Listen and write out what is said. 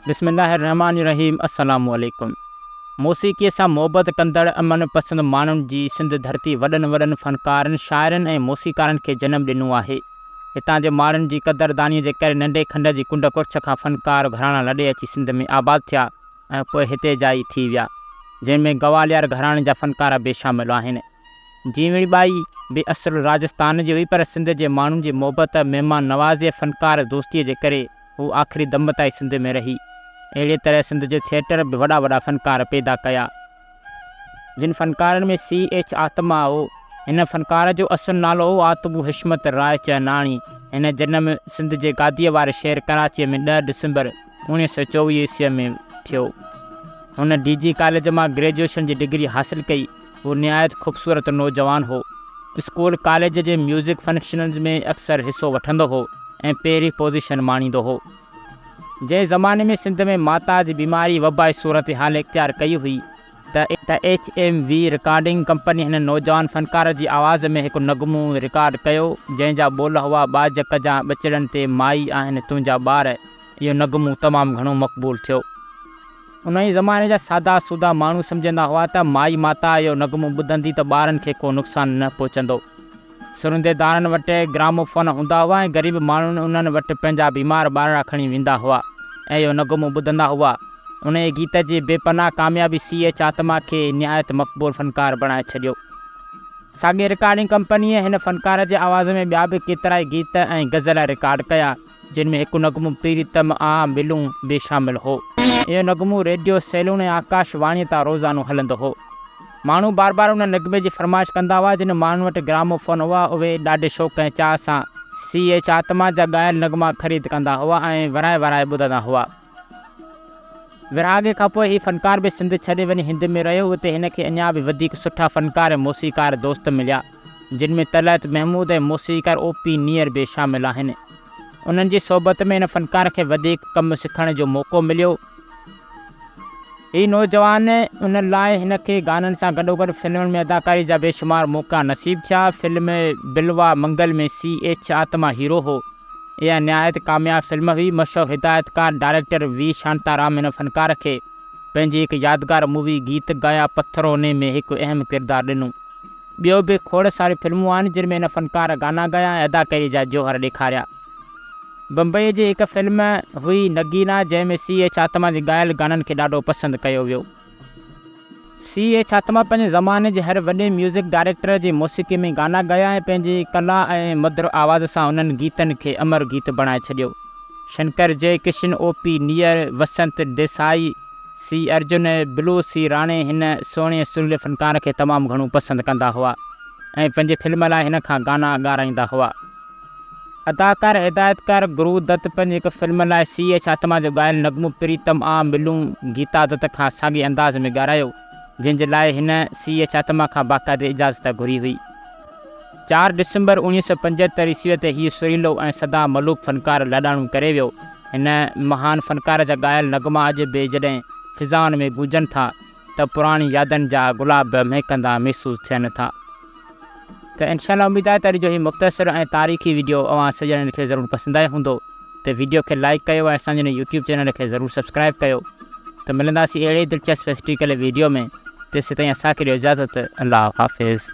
بسم الله الرحمٰن الرحيم السلام عليڪم موسيقي سان محبت ڪندڙ امن پسند ماڻهن جي سنڌ ڌرتي وڏن وڏن فنڪارن شاعرن ۽ موسيقارن کي جنم ڏنو آهي هتان جي ماڻهن جي قدرداني جي ڪري ننڍي کنڊ جي ڪنڊ ڪڙڇ کان فنڪار گهراڻا لڏي اچي سنڌ ۾ آباد ٿيا ۽ پوء هتي جائي ٿي ويا جنهن ۾ گواليار گهراڻي جا فنڪار به شامل آهن جيوڻي ٻائي به اصل راجستان جي هئي پر سنڌ جي ماڻهن جي محبت، مهمان نوازي ۽ فنڪار دوستيء جي ڪري هوء آخري دم تائين سنڌ ۾ رهي. اهڙيء طرح سنڌ جو ٿيٽر به وڏا وڏا فنڪار پيدا ڪيا. جن فنڪارن ۾ سي ايڇ آتما هو. هن فنڪار جو اصل نالو هو آتمو حشمت راء چهناڻي. هن جنم سنڌ جي گاديء واري شهر ڪراچيء ۾ ڏهه ڊسمبر اوڻيهه سؤ چوويهه عيسويء ۾ ٿيو. هن ڊي جي ڪاليج مان گريجوئيشن جي ڊگري حاصل ڪئي. هو نهايت خوبصورت نوجوان هو. اسڪول ڪاليج جي ميوزڪ فنڪشنز ۾ اڪثر حصو وٺندو هو ۽ پهرين پوزيشن ماڻيندو هو. جنهن زماني ۾ سنڌ ۾ ماتا جي بيماري وبائي صورتحال اختيار ڪئي هئي ته، H M V recording company هن نوجوان فنڪار جي آواز ۾ هڪ نغمو رڪارڊ ڪيو، جنهن جا ٻول هئا ٻاجهه ڪجان ٻچڙن تي مائي آهن تنهنجا ٻار. اهو نغمو تمام گهڻو مقبول ٿيو. انهيء زماني جا سادا سودا ماڻهو سمجهندا هئا ته مائي ماتا اهو نغمو ٻڌندي ته ٻارن کي ڪو نقصان نه پهچندو. سرندي دارن وٽ گراموفون هوندا هئا ۽ غريب ماڻهو انهن وٽ پنهنجا بيمار ٻارڙا کڻي ويندا هئا ۽ اهو نغمو ٻڌندا هئا. انهيء گيت جي بي پناهه ڪاميابي سي ايڇ آتما کي نهايت مقبول فنڪار بڻائي ڇڏيو. ساڳئي رڪارڊنگ ڪمپنيء هن فنڪار جي آواز ۾ ٻيا به ڪيترائي گيت ۽ غزل رڪارڊ ڪيا. جن ۾ هڪ نغمو پريتم آ ملون به شامل هو. اهو نغمو ريڊيو سيلون ۽ آڪاش واڻيء تان روزانو هلندو هو. ماڻهو بار بار ان نغمي جي فرمائش ڪندا هئا. جن ماڻهن وٽ گرامو فون هئا، اهي ڏاڍي شوق ۽ چاهه سان سي ايڇ آتما جا ڳايل نغما خريد ڪندا هئا ۽ ورائي ورائي ٻڌندا هئا. ورهاڱي کان پوء هي فنڪار به سنڌ ڇڏي وڃي هند ۾ رهيو. اتي هن کي اڃا به وڌيڪ سٺا فنڪار ۽ موسيقار دوست مليا، جن ۾ طلعت محمود ۽ موسيقار او پي نيئر به شامل آهن. انهن جي صحبت ۾ هن فنڪار کي وڌيڪ ڪم سکڻ جو موقعو مليو. هي نوجوان ان لاء هن کي گانن سان گڏوگڏ فلمن ۾ اداڪاري جا بيشمار موقعا نصيب ٿيا. Film Bilwamangal ۾ C H Atma hero هو. اها نهايت ڪامياب فلم هئي، مشهور هدايتڪار ڊائريڪٽر وي شانتا رام هن فنڪاره کي پنهنجي هڪ يادگار مووي گيت گايا پٿرو ني ۾ هڪ اهم ڪردار ڏنو. ٻيو به کوڙ ساريون فلمون آهن جن ۾ هن فنڪاره گانا گايا ۽ اداڪاري جا جوهر ڏيکاريا. بمبئي جي هڪ فلم هئي نگينا جنهن ۾ سي ايڇ آتما جي ڳايل گانن کي ڏاڍو پسند ڪيو ويو. سي اي ڇاتما پنهنجي زماني جي هر وڏي ميوزڪ ڊائريڪٽر جي موسيقي ۾ گانا ڳايا ۽ پنهنجي ڪلا ۽ مڌر آواز سان انهن گيتن کي امر گيت بڻائي ڇڏيو. شنڪر جئي ڪشن، او پي نيئر، وسنت ديسائي، سي ارجن ۽ بلو سي راڻي هن سهڻي ۽ سريلي فنڪار کي تمام گهڻو پسند ڪندا هئا ۽ پنهنجي فلم لاء هن کان گانا ڳارائيندا هئا. اداڪار ۽ هدايتڪار گرو دت پنهنجي هڪ فلم لاء سي ايڇ آتما جو ڳايل نغمو پريتم آ ملون گيتا دت کان ساڳئي انداز ۾ ڳارايو جنهن جي لاء هن سي ايڇ آتما کان باقاعدي اجازت گهري هئي. چار ڊسمبر اوڻيهه سؤ پنجهتر عيسويء تي هيء سريلو ۽ سدا ملوڪ فنڪار لاڏاڻو ڪري ويو. هن مهان فنڪار جا ڳايل نغما اڄ به جڏهن فضائن ۾ گونجن ٿا، ته پراڻين يادن جا گلاب به مهڪندا محسوس ٿين ٿا ته انشاء الله اميد آهي ته اڄ جو هي مختصر ۽ تاريخي ويڊيو اوهان سڀ ڄڻن کي ضرور پسند آيو هوندو ته ويڊيو کي لائيڪ ڪيو ۽ اسان جي هن يوٽيوب چينل کي ضرور سبسڪرائيب ڪيو ته ملنداسين اهڙي ئي دلچسپ هسٽريڪل ويڊيو ۾ تيسيتائين اسان کي ڏيو اجازت الله حافظ.